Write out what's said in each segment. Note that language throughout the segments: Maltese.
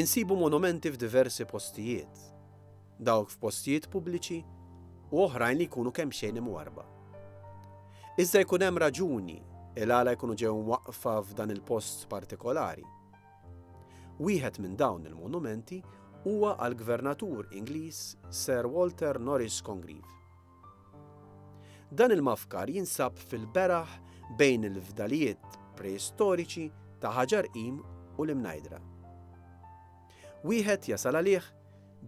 Insibu monumenti f'diversi postijiet, dawk f'postijiet pubbliċi u oħrajn li jkunu kemxejn imwarrba. Iżda jkun hemm raġuni il-għala jkunu ġew mwaqqfa f'dan il-post partikolari. Wieħed minn dawn il-monumenti huwa għall-Gvernatur Ingliż Sir Walter Norris Congreve. Dan il-mafkar jinsab fil-beraħ bejn il-fdalijiet preistoriċi ta' Ħaġar Qim u l-Imnajdra. Wieħed jasal għalih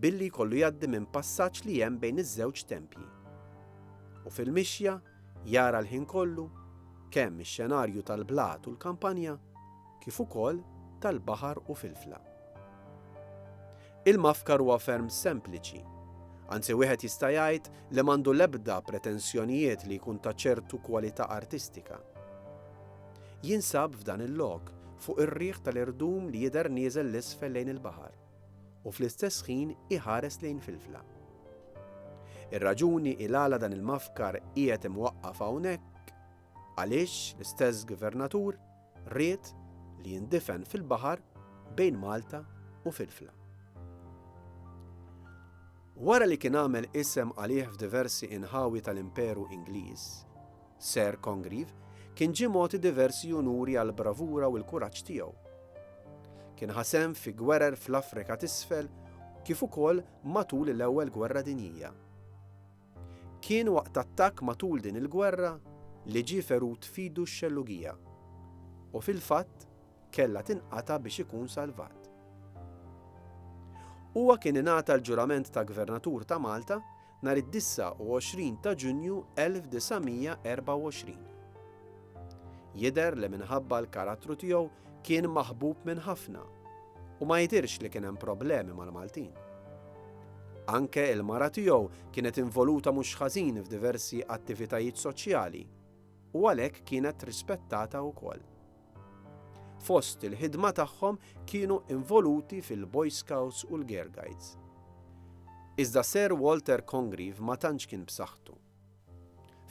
billi jkollu jgħaddi minn passaġġ li hemm bejn iż-żewġ tempji. U fil-mixja jara l-ħin kollu kemm ix-xenarju tal-blat u l-kampanja kif ukoll tal-baħar u filfla. Il-mafkar huwa ferm sempliċi. Anzi wieħed jista' jgħid li m'għandu l-ebda pretensjonijiet li jkun ta' ċertu kwalità artistika. Jinsab f'dan il-lok, fuq ir-riħ tal-irdum li jidher nieżel 'l isfel lejn il-baħar, u fl-istess ħin iħares lejn Filfla. Ir-raġuni il għala dan il-mafkar qiegħed imwaqqaf hawnhekk, għaliex l-istess gvernatur, Ried li jindifen fil-baħar bejn Malta u Filfla. Wara li kien għamel isem għalih f'diversi inħawi tal-Imperu Ingliż, Sir Congreve kien ġie mogħti diversi unuri għall-bravura u l-kuraġġ tiegħu. Kien ħasem fi gwerer fl-Afrika t'Isfel kif ukoll matul l-Ewwel Gwerra Dinjija. Kien waqt attakk matul din il-gwerra li ġie ferut f'idu x-xellugija u fil-fatt kellha tinqata' biex ikun salvat. Huwa kien ingħata l-ġurament ta' Gvernatur ta' Malta nhar id-29 ta' Ġunju 1924. Jidher li minħabba l-karattru tiegħu kien maħbub minn ħafna u ma jidhirx li kien hemm problemi mal-Maltin. Anke il-mara tiegħu kienet involuta mhux ħażin f'diversi attivitajiet soċjali u għalhekk kienet rispettata wkoll. Fost il-ħidma tagħhom kienu involuti fil-Boy Scouts u l-Girl Guides. Iżda Sir Walter Congreve ma tantx kien b'saħħtu.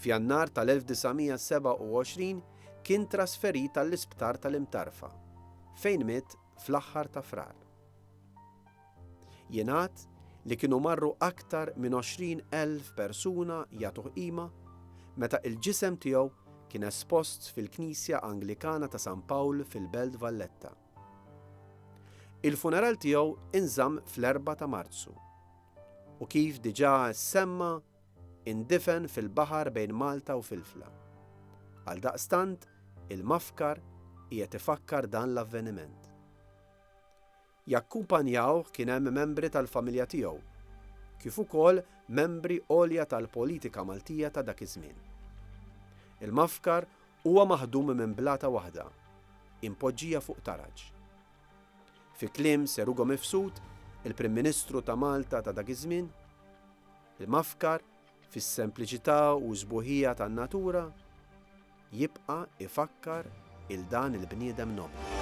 F'Jannar tal-1927 kien trasferit għall-Isptar tal-Imtarfa, fejn miet fl-aħħar ta' Frar. Jingħad li kienu marru aktar minn 20 elf persuna jagħtuh qima meta il-ġisem tiegħu kien espost fil-Knisja Anglikana ta' San Pawl fil-Belt Valletta. Il-funeral tiegħu inżamm fl-4 ta' Marzu u kif diġà ssemma indifen fil-baħar bejn Malta u Filfla. Għaldaqstant, il-Mafkar qiegħed ifakkar dan l-avveniment. Jakkumpanjawh kien hemm membri tal-familja tiegħu, kif ukoll membri għolja tal-politika Maltija ta' dak iż-żmien. Il-Mafkar huwa maħdum minn blata waħda, impoġġija fuq taraġ. Fi kliem Sir Ugo Mifsud, il-Prim Ministru ta' Malta ta' dak iż-żmien, L-Imafkar, fis-sempliċità u s-sbuħija tan-natura, jibqa' ifakkar 'il dan il-bniedem nobli.